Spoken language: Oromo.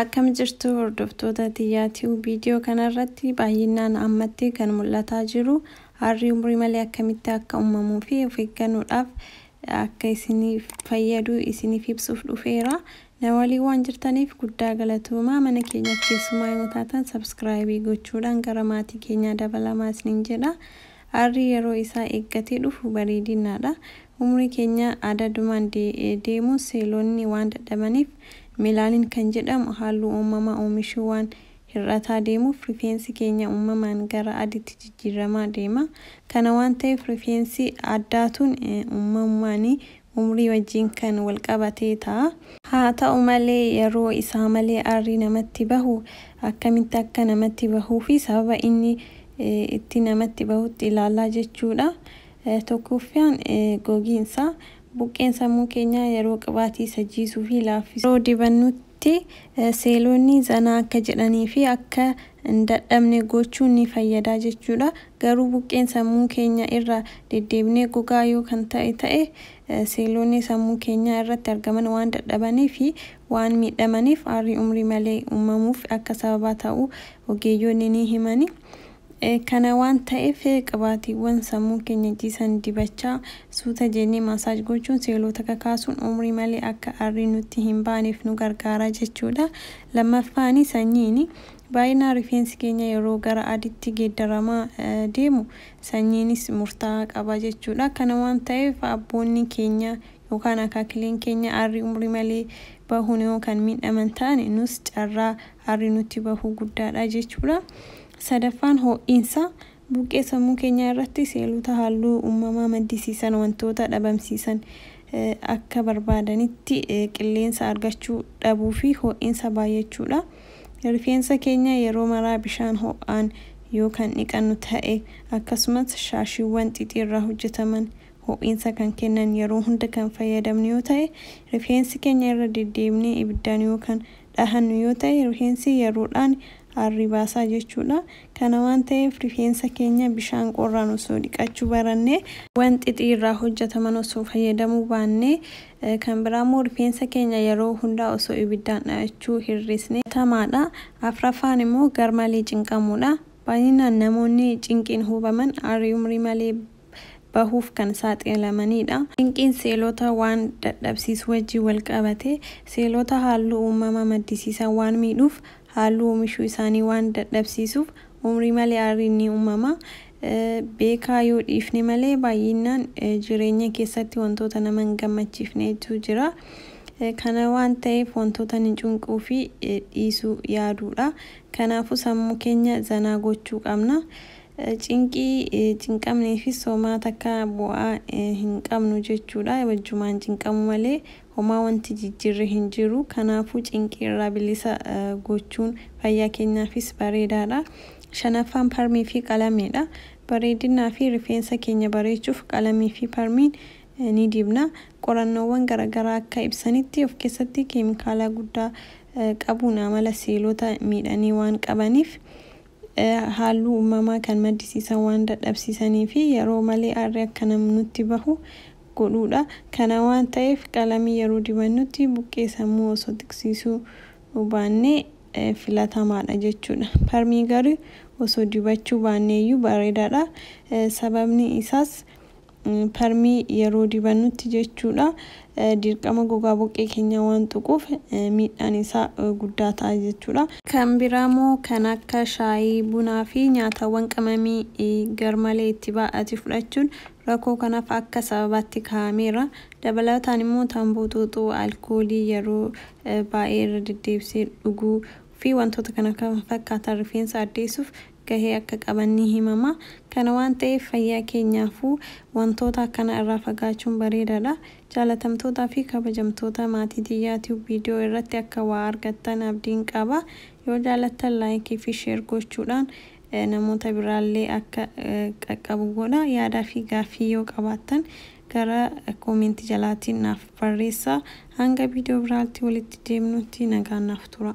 Akkam jirtu hordoftoota tiyyaa ti'uu viidiyoo kanarratti baay'inaan ammatti kan mul'ataa jiru harri umrii malee akkamitti akka uumamuu fi of eeggannoodhaaf akka isiniif fayyadu isiniif ibsuuf dhufeera. Na waliin waan jirtaniif guddaa galatoomaa mana keenyaaf keessumaa yoo taatan sabskraayibii gochuudhaan gara maatii keenyaa dabalamaa isiniin jedha. Aarrii yeroo isaa eeggatee dhufu bareedinaa dha. Umrii keenya adadumaan deemuun seelonni waan dadhabaniif melaaniin kan jedhamu haalluu uumamaa oomishuu waan hir'ataa deemuuf rifeensi keenya uumamaan gara aditti jijjiirramaa deema. Kana waan ta'eef rifeensi addaatuun uumamumaanii umrii wajjin kan wal qabatee ta'a. Haa ta'u malee, yeroo isaa malee aarri namatti bahu akkamitti akka namatti bahuu fi sababa inni itti namatti bahutti ilaalla jechuu dha. Tokkooffaan gogiinsa. Buqqeen sammuu keenyaa yeroo qibaatii isa jiisuu fi laaffisu yeroo dibannutti, tti seeloonni zanaa akka jedhanii fi akka hin dadhabne gochuun ni fayyada jechuu dha. Garuu buqqeen sammuu keenya irraa deddeebinee gogaa yoo kan ta'e ta'e, seeloonni sammuu keenyaa irratti argaman waan dadhabanii fi waan miidhamaniif aarri umrii malee uumamuuf akka sababaa ta'u ogeeyyoonni ni himani. Kana waan ta'eef qibaatiiwwan sammuu keenya ciisan dibachaa, suuta jennee massage gochuun seeloota kakaasuun umrii malee akka aarri nutti hin baaneef nu gargaara jechuudha. Lammaffaani sanyiini. Baay'inaan rifeensi keenya yeroo gara aditti geeddaramaa deemu sanyiinis murtaa'aa qaba jechuudha. Kana waan ta'eef abboonni keenya yookaan akaakileen keenya aarri umrii malee bahuun yoo kan miidhaman ta'an nus carraa aarri nutti bahu guddaadha jechuudha. Sadaffaan ho'insa buqqee sammuu keenyaa irratti seelota halluu uummamaa maddisiisan wantoota dhabamsiisan akka barbaadanitti qilleensa argachuu dhabuu fi ho'insa baay'achuudha. Rifeensa keenya yeroo maraa bishaan ho'aan yoo kan dhiqannu ta'e akkasumas shaashiiwwan xixii irraa hojjetaman ho'insa kan kennan yeroo hunda kan fayyadamnu yoo ta'e rifeensi keenya irra deddeebinee ibiddaan yoo kan dhahannu yoo ta'e rifeensi yeroodhaan aarrii baasaa jechuudha. Kana waan ta'eef rifeensa keenya bishaan qorraan osoo dhiqachuu barannee, waan xixii irraa hojjataman osoo fayyadamuu baannee, kan biraa immoo rifeensa keenya yeroo hundaa osoo ibiddaan dhahachuu hir'isne filatamaadha. Afraffaan immoo garmalee cinqamuudha. Baay'inaan namoonni cinqiin hubaman aarrii umrii malee. bahuuf kan saaxilamaniidha. Cinqiin seelota waan dadhabsiisu wajjin wal qabatee seelota haalluu uumama maddisiisan waan miidhuuf haalluu oomishuu isaanii waan dadhabsiisuuf umrii malee aarriin ni uumama. Beekaa yoo dhiifne malee baay'innaan jireenya keessatti wantoota nama hin gammachiifnetu jira. Kana waan ta'eef wantoota ni cunquu fi dhiisuu yaaduudha. Kanaafuu sammuu keenya zanaa gochuu qabna. Cinqii, cinqamnee fi soomaa takkaa bu'aa hin qabnu jechuudha. Wajjumaan cinqamuu malee homaa wanti jijjiirre hin jiru. Kanaafuu cinqii irraa bilisa gochuun fayyaa keenyaafis bareedaadha. Shanaffaan parmii fi qalamiidha. Bareedinaa fi rifeensa keenya bareechuuf qalamii fi parmiin ni dibna. Qorannoowwan garagaraa akka ibsanitti of keessatti keemikaalaa guddaa qabuun amala seelota miidhanii waan qabaniif haalluu uumamaa kan maddisiisan waan dadhabsiisanii fi yeroo malee aarri akka nutti bahu godhuu dha. Kana waan ta'eef qalamii yeroo dibannutti buqqee sammuu osoo xiqsiisuu baannee filatamaa dha jechuu dha. Parmii garuu osoo dibachuu baanneeyyuu bareedaa dha. Sababni isaas Permii yeroo dibannutti jechuudha dirqama gogaa boqqee keenyaa waan tuquuf miidhaan isaa guddaa ta'a jechuudha. Kan biraamoo kan akka shaayii, bunaa fi nyaatawwan qamamii garmalee itti baay'ate fudhachuun rakkoo kanaaf akka sababaatti kaa'ameera. Dabalataan immoo tamboo xuuxuu, alkoolii yeroo baay'ee irra deddeebisee dhuguu fi wantoota kana kan fakkaatan rifeensa addeessuuf gahee akka qaban ni himama. Kana waan ta'eef fayyaa keenyaafuu wantoota akkanaa irraa fagaachuun bareedaadha. Jaalatamtootaa fi kabajamtoota maatii Tiyyaa Tube video irratti akka waa argattan abdiin qaba. Yoo jaalattan like fi share gochuudhaan namoota biraallee akka qaqqabu godhaa. Yaadaa fi gaaffii yoo qabaattan gara comment jalaatiin naaf barreessaa. Hanga video biraatti walitti deemnutti nagaan naaf turaa.